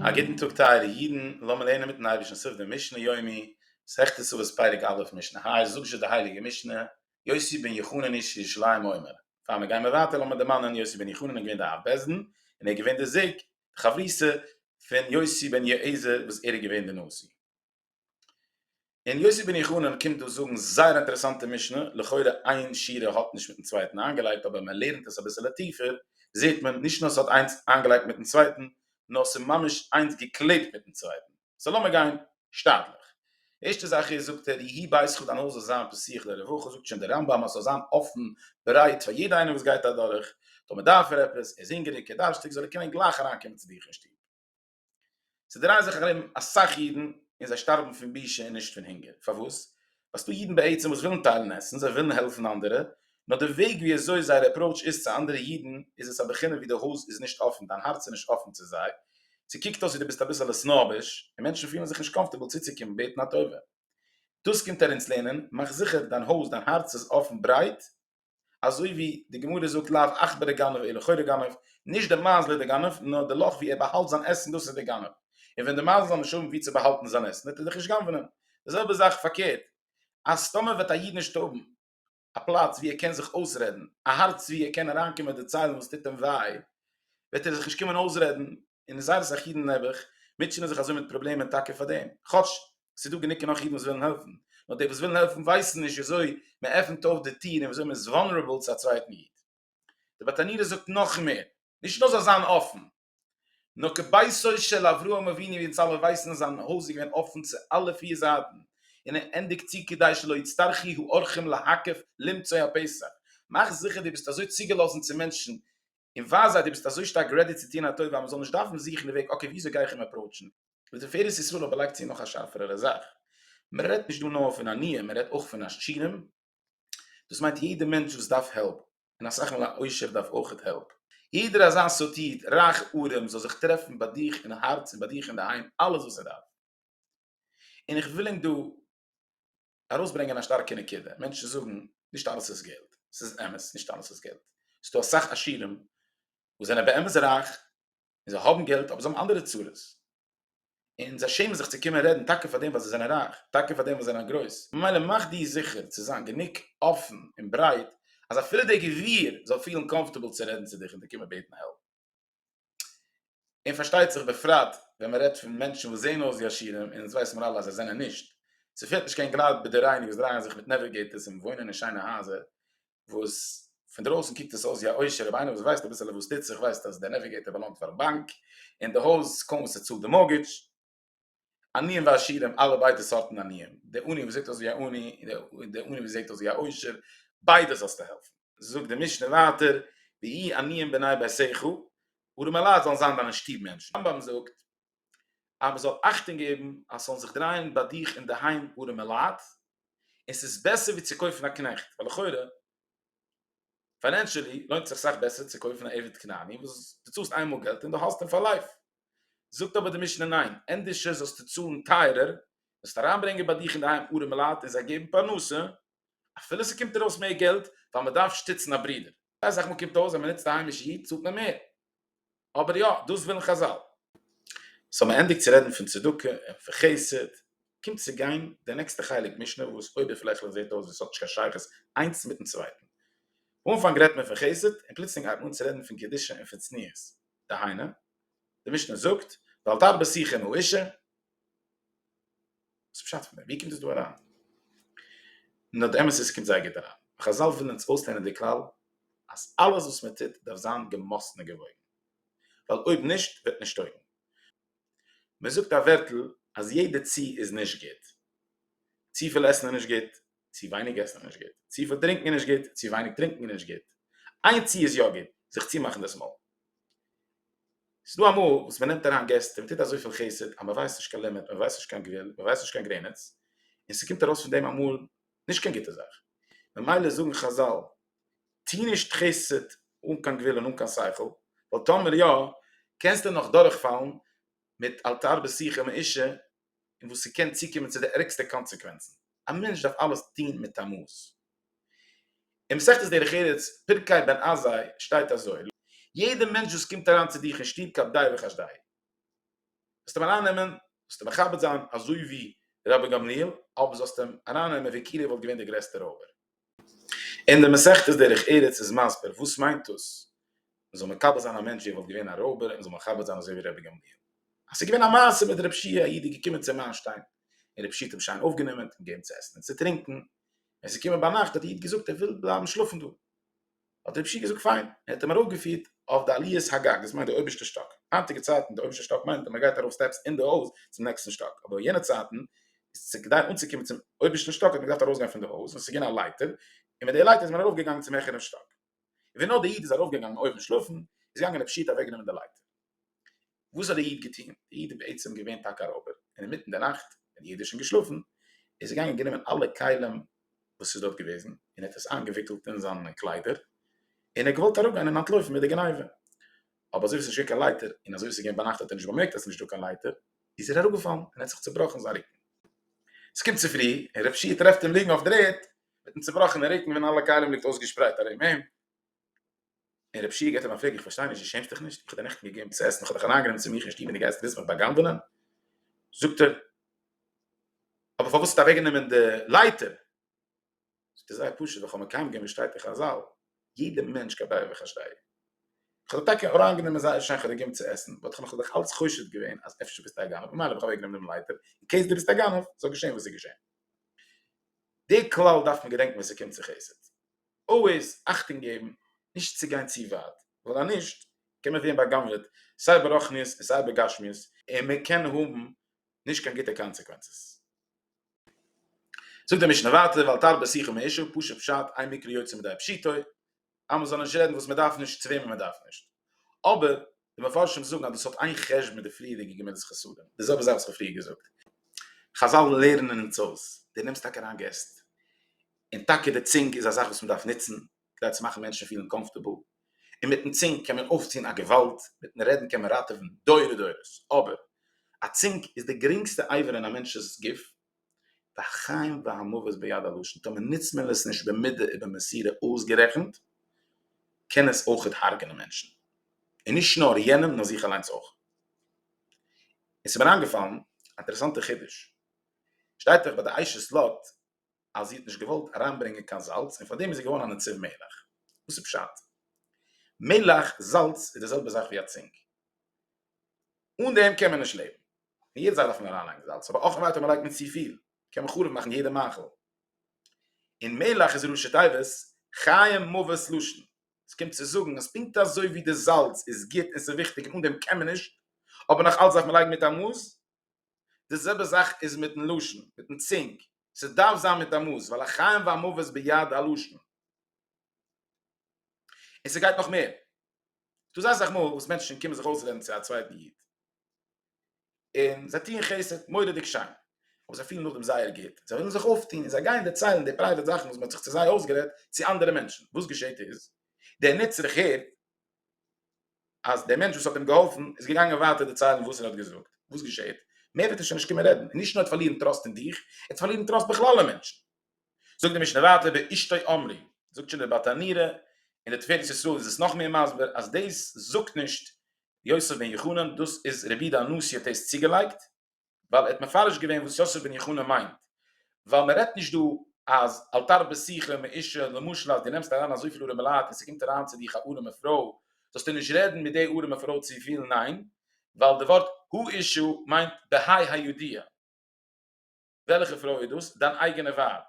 א גוטן טאג טייערע אידן, לאמיר לערנען מיטן אייבערשטן סוף דעם משנה יומי, מסכת כסובות פרק א' משנה ה', זאגט זשע די הייליגע משנה, יוסי בן יחונן איש ירושלים אומר, פאר מיר גיימער ווייטער לאמיר דערמאנען יוסי בן יחונן איז געווען דער אב בית דין, און ער איז געווען דער זוג, די חברותא, פון יוסי בן יועזר וואס ער איז געווען דער נשיא. אין יוסי בן יחונן קומט דא זאגן זייער אינטערעסאנטע משנה, לכאורה איין שורה האט נישט מיטן צווייטן איינגעלייגט אבער מען לערנט עס אביסעלע טיפער זעהט מען נישט נאר ס'האט איינס איינגעלייגט מיטן צווייטן נאר ס'ממש איינס געקלעבט מיטן צווייטן, סא לאמיר גיין שטאטליך. ערשטע זאך איז זאגט ער יהי בייתך דיין הויז זאל זיין פסוח לרווחה זאגט שוין דער רמב ם אז ס'זאל זיין אפן ברייט פאר יעדע איינער וואס גייט אדורך טאמער דארף ער עפעס ער איז הונגעריג ער דארף שטיק זאל ער קענען גלייך אריינקומען צו דיך אין שטוב. ס'דרייען זיך ארום אסאך אידן און זיי שטארבן פון בושה און נישט פון הונגער. פארוואס? ווייל ס'דא אידן בעצם וואס ווילן טיילן עסן, זיי ווילן העלפן אנדערע, נאר די וועג ווי אזוי זייער עפראוטש איז צו אנדערע אידן איז עס א בחינה ווי די הויז איז נישט אפן, דיין הארץ איז נישט אפן צו זיי, ס'קוקט אויס ווי די ביסט אביסעלע סנאביש, און מענטשן פילן זיך נישט קאמפארטעבל צוצוקומען בעטן א טובה. דאס קומט ער אונז לערנען, מאך זיכער דיין הויז, דיין הארץ איז אפן ברייט, אזוי ווי די גמרא זאגט לאו עכברא גנב אלא חורא גנב, נישט די מייזל איז די גנב, נאר די לאך ווי ער באהאלט זיין עסן דאס איז די גנב, און ווען די מייזל זאל נישט האבן ווי צו באהאלטן זיין עסן וועט ער דאך נישט גנב'נען, די זעלבע זאך פארקערט, אז טאמער וועט א איד נישט האבן א פלאץ ווי ער קען זיך אויסרעדן, א הארץ ווי ער קען אריינקומען דערציילן וואס טוט אים וויי, וועט ער זיך נישט קומען אויסרעדן, און זייער אסאך אידן נעבעך מוטשענען זיך אזוי מיט פראבלעמען טאקע פאר דעם, כאטש ס'איז דא גענוג און נאך אידן וואס ווילן העלפן, נאר די וואס ווילן העלפן ווייסן נישט וויאזוי מען עפנט אויף די טיר און וויאזוי מען איז וואנערעבל צו א צווייטן איד. די בת ענירה זאגט נאך מער, נישט נאר זאל זיין אפן, נאר כביתו של אברהם אבינו ווי אונז אלע ווייסן איז זיין הויז געווען אפן צו אלע פיר זייטן, און ער ענדיגט צו כדי שלא יצטרכי האורחים להקף למצוא הפסח, מאך זיכער דו ביסט אזוי צוגעלאזן צו מענטשן און ווייז זיי דו ביסט אזוי שטארק רעדי צו טון א טובה אז מען זאל נישט דארפן זוכן די וועג אקעי וויאזוי גיי איך אים עפראוטשן, ותפארת ישראל אבער לייגט צו נאך א שארפערערע זאך, מען רעדט נישט דא נאר פון עניים מען רעדט אויך פון עשירים, דאס מיינט יעדע מענטש וואס דארף העלפ, און אסאך מאל א עושר דארף אויכעט העלפ. יעדער אזא סארט איד, רייך ארעם, זאל זיך טרעפן ביי דיך אין הארץ און ביי דיך אינדערהיים אלעס וואס ער דארף. און איך וויל ענק דא ארויסברענגען א שטארקע נקודה, מענטשן זאגן, נישט אלעס איז געלט, ס'איז אמת, נישט אלעס איז געלט, ס'דא אסאך עשירים וואס זענען באמת רייך, און זיי האבן געלט אבער זיי האבן אנדערע צרות און זיי שעמען זיך צו קומען רעדן טאקע פארדעם ווייל זיי זענען רייך טאקע פארדעם ווייל זיי זענען גרויס ממילא מאך דיר זיכער צו זיין גענוג אפן און ברייט אז אפילו דער גביר זאל פילן קאמפארטעבל צו רעדן צו דיך און דיר קומען בעטן העלפ און פארשטייט זיך בפרט ווען מען רעדט פון מענטשן וואס זעען אויס ווי עשירים און עס ווייסט מען אלע אז זיי זענען נישט ס'פעלט נישט קיין גלייט ביי די רייענע וואס דרייען זיך מיט נעוויגעיטערס און וואוינען אין שיינע הייזער וואס פון דרויסן קוקט עס אויס ווי א עושר אבער איינער וואס ווייסט אביסעלע וואס טוט זיך ווייסט אז דער נעוויגעיטער באלאנגט פארן באנק און די הויז קוים וואס ער צאלט די מארטגעדזש. עניים ועשירים אלע ביידע סארטן עניים דער עני וואס זעט אויס ווי א עני און דער עני וואס זעט אויס ווי א עושר ביידע זאלסטו העלפן. זאגט די משנה ווייטער ויהיו עניים בני ביתך ארעמעלייט זאלן זיין דיינע שטוב מענטשן. רמב ם זאגט אז מען זאל אכטונג געבן אז ס'זאלן זיך דרייען ביי דיך אינדערהיים ארעמע לייט, און ס'איז בעסער ווי צו קויפן א קנעכט, ווייל לכאורה פיינענשעלי לוינט זיך סאך בעסער צו קויפן א עבד כנעני וואס דו צאלסט איינמאל געלט און דו האלסט אים פאר לייף. זאגט אבער די משנה ניין, ענדערש זאלסטו צאלן טייערער, וועסט אריינברענגען ביי דיך אינדערהיים ארעמע לייט און זיי געבן פרנסה, אפילו ס'קומט ארויס מער געלט, ווייל מען דארף שטיצן א ברודער. אסאך מאל קומט אויס ווען מען נוצט א היימישע היט צאלט מען מער, אבער יא, דאס ווילן חזל. סאו מען ענדיגט צו רעדן פון צדקה און פון חסד, קומט צו גיין די נעקסטע חלק משנה וואס אויבערפלעכליך זעט אויס ווי עס האט נישט קיין שייכות איינס מיטן צווייטן. אנפאנג רעדט מען פון חסד און פלוצלינג הייבט מען אן צו רעדן פון קדושה און פון צניעות. דהיינו, די משנה זאגט ואל תרבה שיחה עם האישה, וואס איז פשט פון דעם? ווי קומט עס דא אריין? נאר די אמת איז ס'קומט זייער גוט אריין. חזל ווילן אונז אויסלערנען די כלל אז אלעס וואס מען טוט דארף זיין געמאסטן און געוואויגן. ווייל אויב נישט וועט נישט טויגן. מען זאגט א ווערטל אז יעדע צו איז נישט גוט. צופיל עסן איז נישט גוט, צו ווייניג עסן איז נישט גוט, צופיל טרינקען איז נישט גוט, צו ווייניג טרינקען איז נישט גוט, איין צו איז יא גוט, זיך צומאכן דאס מויל. ס'איז דא אמאל וואס מען נעמט אריין געסט און מען טוט אזויפיל חסד אז מען ווייסט נישט קיין לימיט, מען ווייסט נישט קיין גבול, מען ווייסט נישט קיין גרעניץ, און ס'קומט ארויס פון דעם אמאל נישט קיין גוטע זאך. ממילא זאגן חזל, טו נישט חסד אן קיין גבול און אן קיין שכל, ווייל טאמער יא, קענסטו נאך דורכפאלן מיט אל תרבה שיחה מאישה, און וואס ס'קען צוקומען צו די ערגסטע קאנסעקווענצן, א מענטש דארף אלעס טון מיט א מאס. אין מסכת דרך ארץ, פרקי בן עזאי, שטייט אזוי, יעדע מענטש וואס קומט אריין צו דיך אין שטוב כעבדאי וכעשדיי, זאלסט אים ארייננעמען, זאלסט אים מכבד זיין, אזוי ווי רבי גמליאל, אויב זאלסט אים ארייננעמען ווי כאילו ער וואלט געווען דער גרעסטער רויבער. אין די מסכת דרך ארץ איז מסביר וואס מיינט דאס מען זאל מקבל זיין א מענטש ווי ער וואלט געווען א רויבער און זאל מכבד זיין אזוי ווי רבי גמליאל אז ס'געווען א מעשה מיט רב שי' א איד איז געקומען צום איינשטיין און רב שי' האט אים שיין אויפגענומען און געבן צו עסן און צו טרינקען ווען ס'איז געקומען ביינאכט האט די איד געזאגט ער וויל בלייבן שלאפן דא. האט רב שי געזאגט פיין, ער האט אים ארויפגעפירט אויף די עליית הגג, דאס מיינט די אויבערשטע שטאק, היינטיגע צייטן די אויבערשטע שטאק מיינט אז מען גייט ארויף סטעפס אין די הויז צום נעקסטן שטאק, אבער אין יענע צייטן איז צו כדי אנצוקומען צום אויבערשטן שטאק האט מען געדארפט ארויסגיין פון די הויז און עס איז געווען א לייטער און מיט די לייטער איז מען ארויפגעגאנגען צום העכערן שטאק, ווי נאר די איד איז ארויפגעגאנגען אויבן שלאפן איז געגאנגען רב שי האט אוועקגענומען די לייטער. וואס האט דער איד געטון? דער איד איז בעצם געווען טאקע א רויבער, און אינמיטן די נאכט ווען יעדער איז שוין געשלאפן, איז ער געגאנגען גענומען אלע כלים וואס איז דארט געוועזן, און ער האט עס איינגעוויקלט אין זיינע קליידער, און ער האט געוואלט אראפגיין און אנטלויפן מיט די גניבה, אבער אזוי ווי עס איז נישט געווען קיין לייטער, און אזוי ווי עס איז געווען ביינאכט האט ער נישט באמערקט אז עס איז נישטא קיין לייטער, איז ער אראפגעפאלן און האט זיך צובראכן זיין רוקן. עס קומט צופרי, און רב שיע טרעפט אים ליגן אויף דער ערד, מיטן צובראכענעם רוקן ווען אלע כלים ליגט אויסגעשפרייט ארום אים. און רבשי ע געט אים א פרעג איך פארשטיי נישט דו שעמסט דיך נישט? איך האב דיר נעכטן געגעבן צו עסן איך האב דיך אריינגענומען צו מיך אין שטוב און דו גייסט ווילסט מיך בא'גנב'ענען? זאגט ער אבער פארוואס האסטו אוועקגענומען די לייטער? זאגט ער זייער פשוט ווייל איך האב מקיים געווען וואס שטייט אין חזל יעדע מענטש כדאי וכשדאי איך האב דיך טאקע אריינגענומען זייער שיין איך האב דיר געגעבן צו עסן באט איך האב מיך דאך אלץ חושד געווען אז אפשר ביסטו א גנב ממילא האב איך אוועקגענומען דעם לייטער אין קעיס דו ביסט א גנב זאל געשען וואס איז געשען די כלל דארף מען געדענקן ווען ס'קומט צו חסד. אלוועיס אכטונג געבן נישט צו גיין צו ווייט, ווייל אז נישט קען מען ווערן בא'גנב'עט סיי ברוחניות און סיי בגשמיות, און מען קען האבן נישט קיין גוטע קאנסעקווענצעס. זאגט די משנה ווייטער, ואל תרבה שיחה מאישה, פשוט פשט, איין מקרה יוצא מידי פשיטא, אז מען זאל נישט רעדן וואס מען דארף נישט צו וועמען מען דארף נישט, אבער די מפרשים זאגן אז דאס האט איין חשבון מיט די פריערדיגע גמילת חסדים, די זעלבע זאך וואס איך האב פריער געזאגט. חזל לערנען אונז אויס, דו נעמסט טאקע אריין געסט, און טאקע די צונג איז א זאך וואס מען דארף נוצן כדי צו מאכן מענטשן פילן קאמפארטעבל, און מיטן צונג קען מען אויפטון א געוואלד, מיטן רעדן קען מען ראטעווען דורי דורות, אבער א צונג איז די גרינגסטע אייווער אין א מענטש'ס גוף, והחיים והמוות ביד הלשון, טאמער נוצט מען עס נישט במידה ובמסירה אויסגערעכנט, קען עס אויך הרג'נען מענטשן, און נישט נאר יענעם נאר זיך אליינס אויך. און ס'איז מיר איינגעפאלן א אינטערעסאנטע חידוש, שטייט דאך ביי די עייש'ס לאט אז זי האט נישט געוואלט אריינברענגען קיין זאלץ און פארדעם איז זי געווארן א נציב מלח. וואס איז פשט? מלח, זאלץ, איז די זעלבע זאך ווי א צינג. אן דעם קען מען נישט לעבן. אין יעדע זאך דארף מען אריינלייגן זאלץ, אבער אויך ווייטער מ'לייגט מען צופיל קען מען חרוב מאכן יעדע מאכל. און מלח איז ראשי תיבות חיים מוות לשון. עס קומט צו זאגן אז פונקט אזוי ווי די זאלץ איז גוט און ס'איז וויכטיג און אן דעם קען מען נישט, אבער נאך אלץ דארף מען לייגן מיט א מאס, די זעלבע זאך איז מיטן לשון, מיטן צינג, ס'דארף זיין מיט א מאס, ווייל החיים והמוות ביד הלשון. און ס'גייט נאך מער, ס'דא זייער אסאך מאל וואס מענטשן קומען זיך אויסרעדן צו א צווייטן איד, און זיי טוען חסד מורא'דיג שיין, אבער זיי פילן נאכדעם זייער גוט, זיי ווילן זיך אויפטון און זיי גייען דערציילן די פרייוועט זאכן וואס מ'האט זיך צו זיי אויסגערעדט צו אנדערע מענטשן, וואס געשעהט איז, דער נצרך הערט אז דער מענטש וואס האט אים געהאלפן איז געגאנגען ווייטער דערציילן וואס ער האט געזאגט, וואס געשעהט? מער וועט ער שוין נישט קומען רעדן, און נישט נאר ער האט פארלירן טראסט אין דיך, ער האט פארלירן טראסט בכלל אין מענטשן. זאגט די משנה ווייטער ואשתו אמרי, זאגט שוין דער בת ענירה, און דער תפארת ישראל איז עס נאכמער מסביר, אז דאס זאגט נישט יוסף בן יחנן, דאס איז רבי יהודה הנשיא האט דאס צוגעלייגט, ווייל ער האט מפרש געווען וואס יוסף בן יחונה מיינט, ווייל מען רעדט נישט דא אז אל תרבה שיחה מאישה, למשל אז דו נעמסט אריין אזויפיל ארעמע לייט און ס'קומט אריין צו דיך א ארעמע פרוי, זאלסטו נישט רעדן מיט די ארעמע פרוי צופיל, ניין, ווייל די ווארט האישה מיינט בהאי הידיעה, וועלכע פרוי איז דאס? דיין אייגענע ווייב,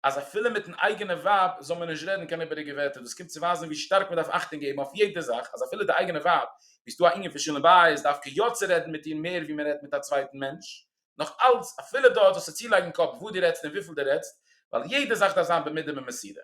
אז אפילו מיטן אייגענע ווייב זאל מען נישט רעדן קיין איבעריגע ווערטער, דאס קומט צו ווייזן ווי שטארק מען דארף אכטונג געבן אויף יעדע זאך, אז אפילו די אייגענע ווייב, ווי ס'איז דא א ענין פון שלום בית, דארף כ י צו רעדן מיט איר מער ווי מען רעדט מיט א צווייטן מענטש, נאך אלץ, אפילו דארט זאלסטו צולייגן קאפ וואס דו רעדסט און וויפיל דו רעדסט, ווייל יעדע זאך דארף זיין במידה במסירה.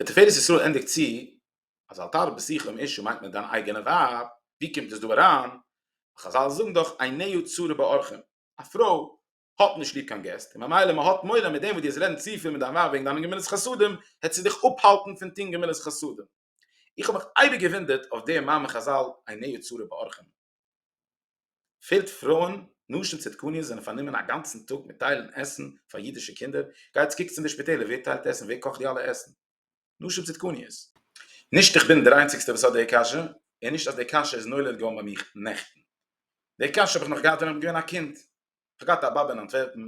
דער תפארת ישראל ענדיגט צו, אז אל תערב בשיחה עם אשתו מיינט מען דיין אייגענע ווייב, ווי קומט עס דא אריין? ווייל חזל זאגן דאך עיניו צרה באורחים, א פרוי האט נישט ליב קיין געסט, און ממילא מען האט מורא מיט דעם וואס דו וועסט רעדן צופיל מיט דיין ווייב וועגן דיינע גמילות חסדים, העסטו דיך אפהאלטן פון טון גמילות חסדים. איך האב מיך אייביג געוואונדערט אויף דעם מאמר חזל עיני צרה באורחים. פעלט פרויען, נשים צדקניות זענען פארנומען א גאנצן טאג מיט טיילן עסן פאר אידישע קינדער, גייטס קוקטס אין די שפיטעלער ווער טיילט עסן, ווער קאכט די אלע עסן. נשים צדקניות. נישט איך בין דער איינציגסטער וואס האט די קשיא, און נישט אז די קשיא איז נולד געווארן ביי מיך נעכטן. די קשיא האב איך נאך געהאט ווען איך בין געווען א קינד. איך האב געהאט א באבע אין אנטווערפן,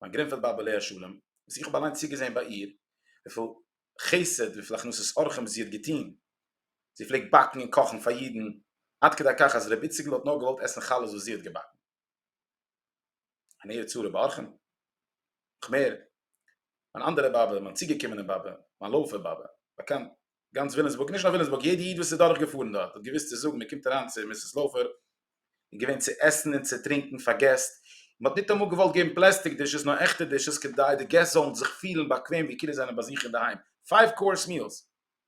מיין גרינפעלד באבע עליה השלום, וואס איך האב אליין צוגעזען ביי איר וויפיל חסד, וויפיל הכנסת אורחים זי האט געטון. זי פלעגט באקן און קאכן פאר אידן, עד כדי כך אז ר' איציקל האט נאר געוואלט עסן חלות וואס זי האט געבאקן. אַן ערד צו רב אַרכן. נאָך מער, מײַן אַנדערע באָבע, מײַן צוגעקומענע באָבע, מײַן לויפֿער באָבע, באַקאַנט גאַנץ ווילאַמסבורג, נישט נאָר ווילאַמסבורג, יעדער ייִד, וואָס איז דורכגעפֿאָרן דאָרט, האָט געוווּסט צו זאָגן, מע קומט אַרײַן צו מיסיס לויפֿער, איז געווען צו עסן און צו טרינקען פֿאַר געסט, מע האָט ניט אַמאָל געוואָלט געבן פּלעסטיק דישעס, נאָר עכטע דישעס, כּדי די געסט זאָלן זיך פֿילן באַקוועם, ווי כאילו זיי זענען בײַ זיך אין דער היים. פֿײַוו-קאָרס מיעלס!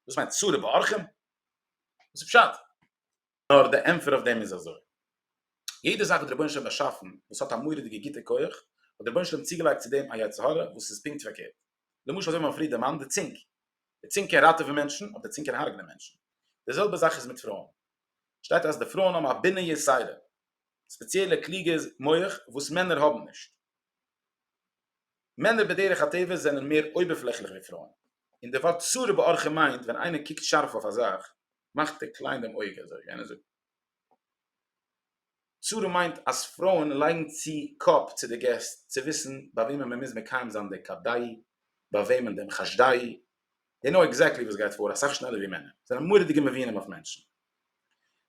דאָס מײנט צו רב אַרכן? וואָס איז פּשט? נאר די ענטפער אויף דעם איז אזוי. יעדע זאך וואס דער רבונו של עולם באשאפן וואס האט א מורא'דיגע גוטע כח, האט דער רבונו של עולם צוגעלייגט צו דעם א יצר הרע וואס איז פונקט פארקערט. למשל אזוי ווי מ'האט פריער דערמאנט די צונג. די צונג קען ראטעווען מענטשן, אדער די צונג קען הרג'נען מענטשן. די זעלבע זאך איז מיט פרויען. שטייט אז די פרויען האבן א בינה יתירה, ספעציעלע קלוגע מח וואס מענער האבן נישט. מענער בדרך הטבע זענען מער אויבערפלעכליך ווי פרויען. און די ווארט צרה באורחא מיינט ווען איינער קוקט שארף אויף א זאך, מאכט ער קליין דעם אויג אזוי ווי איינער זאגט צרה מיינט אז פרויען לייגן צו קאפ צו די געסט צו וויסן ביי וועמען מען מוז מקיים זיין די כדאי ביי וועמען דעם חשדאי זיי נאו עקזעקטלי וואס גייט פאר אסאך שנעלער ווי מענער זענען מורא'דיגע מבינים אויף מענטשן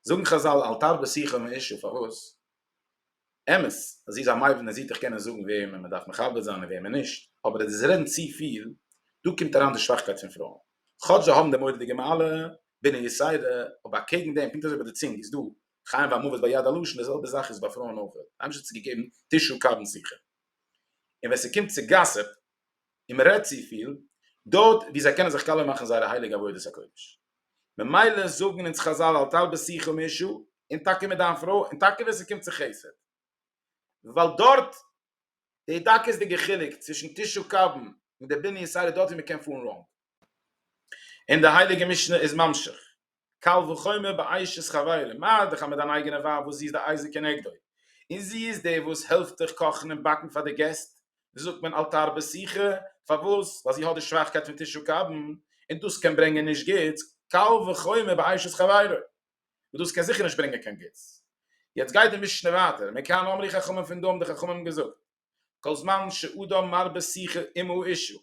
זאגן חזל אל תרבה שיחה מאישה פארוואס אמת אז זי איז א מבין און זי האט דאך קענען זאגן וועמען מען דארף מכבד זיין און וועמען נישט, אבער עס איז רעדן צופיל, דא קומט אריין די שוואכקייט פון פרויען, כאטש זיי האבן די מורא'דיגע מעלה בענין יסיידע, אבער אקעגן דעם, פונקט אזוי ביי די צונג איז דא חיים והמוות ביד הלשון, די זעלבע זאך איז ביי פרויען אויך, אייבערשטער האט צו געגעבן תשעה קבין שיחה, און ווען ס'קומט צו גאסיפ, און מען רעדט צופיל דארט ווי זיי קענען זיך קאלער מאכן זייערע הייליגע עבודת הקודש, ממילא זאגן אונז חזל אל תלבש שכר מאישה, און טאקע מיט דיין פרוי, און טאקע ווען ס'קומט צו חסד, ווייל דארט די דקות'דיגע חילוק צווישן תשעה קבין און די בנין סעודה דארט ווי מען קען פארן ראנג, און די הייליגע משנה איז ממשיך. קל וחומר ביי אשת חברים, מאר דיך אז מיט דיין אייגענע ווייב וואס זי איז די אייזיק כנגדו, און זי איז די וואס העלפט דיך קאכן און באקן פאר די געסט, זאגט מען אל תרבה שיחה, פארוואס? ווייל זי האט די שוואכקייט פון תשעה קבין, און דאס קען ברענגען נישט גוטס, קל וחומר ביי אשת חברים, וואס דאס קען זיכער נישט ברענגען קיין גוטס. יעצט גייט די משנה ווייטער, מכאן אמרי חכמים פון דא האבן די חכמים געזאגט, כל זמן שאדם מרבה שיחה עמו אישו,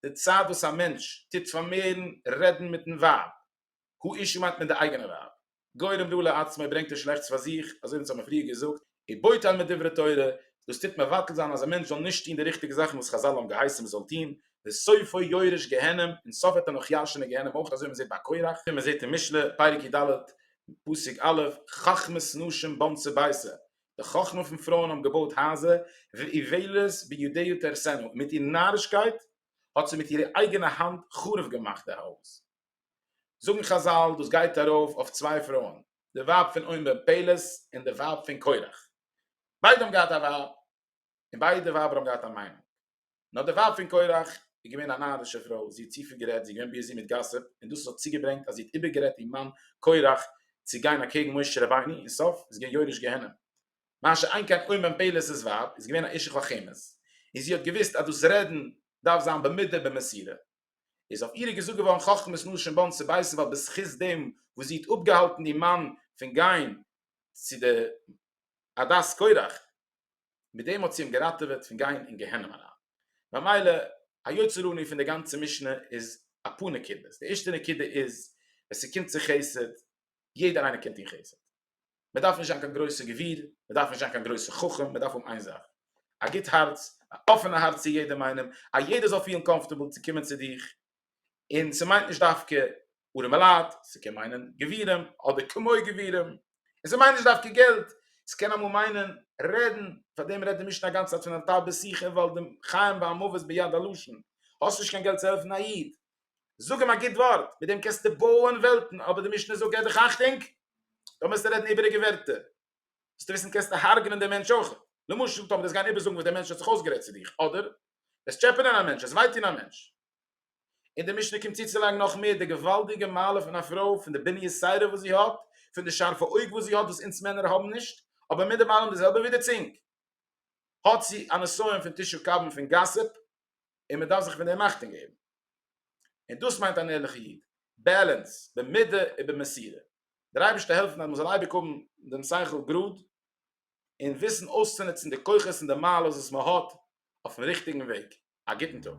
די צייט וואס א מענטש טוט פארמערן רעדן מיטן ווייב, הוא אישו מיינט מען די אייגענע ווייב, גורם רע לעצמו, ברענגט ער שלעכטס פאר זיך, אזוי ווי אונז האבן פריער געזאגט, הוא בוטל מדברי תורה, דאס טוט מבטל זיין אז א מענטש זאל נישט טון די ריכטיגע זאכן וואס חזל האבן געהייסן מען זאל טון, וסופו יורש גיהנם, און סוף וועט ער נאך ירש'ען אין גיהנם אויך, אזוי ווי מען זעט ביי קורח, ווי מען זעט אין משלי, פרק י ד, פסוק א', חכמת נשים בנצי ביתה, די חכמה פון פרויען האבן געבויט הייזער ואיוולת בידיו תהרסנה, מיט איר נארישקייט האט זי מיט אירע אייגענע האנט חרוב געמאכט די הויז. זאגן חזל דאס גייט ארויף אויף צוויי פרויען, די ווייב פון אוים בן פלת און די ווייב פון קרח, ביידע האבן געהאט א ווייב און ביידע ווייבער האבן געהאט א מיינונג. נאָר די ווייב פון קורח איז געווען אַ נאַרישע פרוי, זי האָט צו פיל גערעדט, זי איז געווען ביזי מיט גאַסיפּ, און דאָס האָט צוגעברענגט אַז זי האָט איבערגערעדט איר מאַן קורח צו גיין אַקעגן משה רבינו, אין סוף איז געווען יורש גיהנום. משה אין כן אומן פלס ס ווייב איז געווען אַ אשת חכמת, און זי האָט געוואוסט אַז דאָס רעדן דאַרף זיין במדה במסירה, איז אויף איר געזאָגט געוואָרן חכמת נשים באַן צו בית ווייל בזכות דעם וואָס זי האָט אָפּגעהאַלטן איר מאַן פון גיין צו די עדת קורח, מיט דעם האט זי אים געראטעוועט פון גיין אין גיהנום אריין. ממילא היוצר אני פון די גאנצע משנה איז אפאר נקודות, די ערשטע נקודה איז ווען ס'קומט צו חסד, יעדער איינער קען טון חסד, מ'דארף נישט זיין קיין גרויסע גביר, מ'דארף נישט זיין קיין גרויסע חכם, מ'דארף האבן איין זאך, א גוט הארץ, א אפענע הארץ צו יעדעם איינעם, אז יעדער זאל פילן קאמפארטעבל צו קומען צו דיך, און ס'מיינט נישט דווקא ארעמע לייט, ס'קען מיינען גבירים אדער כמו גבירים, און ס'מיינט נישט דווקא געלט, ס'קען אמאל מיינען רעדן, פארדעם רעדט די משנה אגאנצע צייט פון אתה בשיחה ווייל די חיים והמוות ביד הלשון, האסט נישט קיין געלט צו העלפן א איד, זאג אים א גוט ווארט, מיט דעם קענסטו בויען וועלטן, אבער די משנה זאגט געב דיך אכטונג, דאן וועסטו רעדן איבעריגע ווערטער, וועסטו וויסן קענסטו הרג'נען דעם מענטש אויך, למשל טאמער וועסט גיין איבערזאגן וואס דער מענטש האט זיך אויסגערעדט צו דיך, אדער וועסט טשעפענען א מענטש, עס וויי טון א מענטש. און די משנה קומט צוצולייגן נאך מער די געוואלדיגע מעלה פון א פרוי, פון די בניית סדר וואס זי האט, פון די שארפע אויג וואס זי האט וואס אונז מענער האבן נישט, אבער מיט דעם אלעם די זעלבע ווי די צונג האט זי א נסיון פון תשעה קבין פון גאסיפ און מען דארף זיך פון דעם אכטונג געבן. און דאס מיינט אן ערליכע איד, בעלענס במידה ובמסירה. דער אייבערשטער העלפן אז מען זאל אייביג האבן דעם שכל גראד און וויסן אויסצונוצן די כוחות און די מעלות וואס מען האט אויפן ריכטיגן וועג. א גוטן טאג.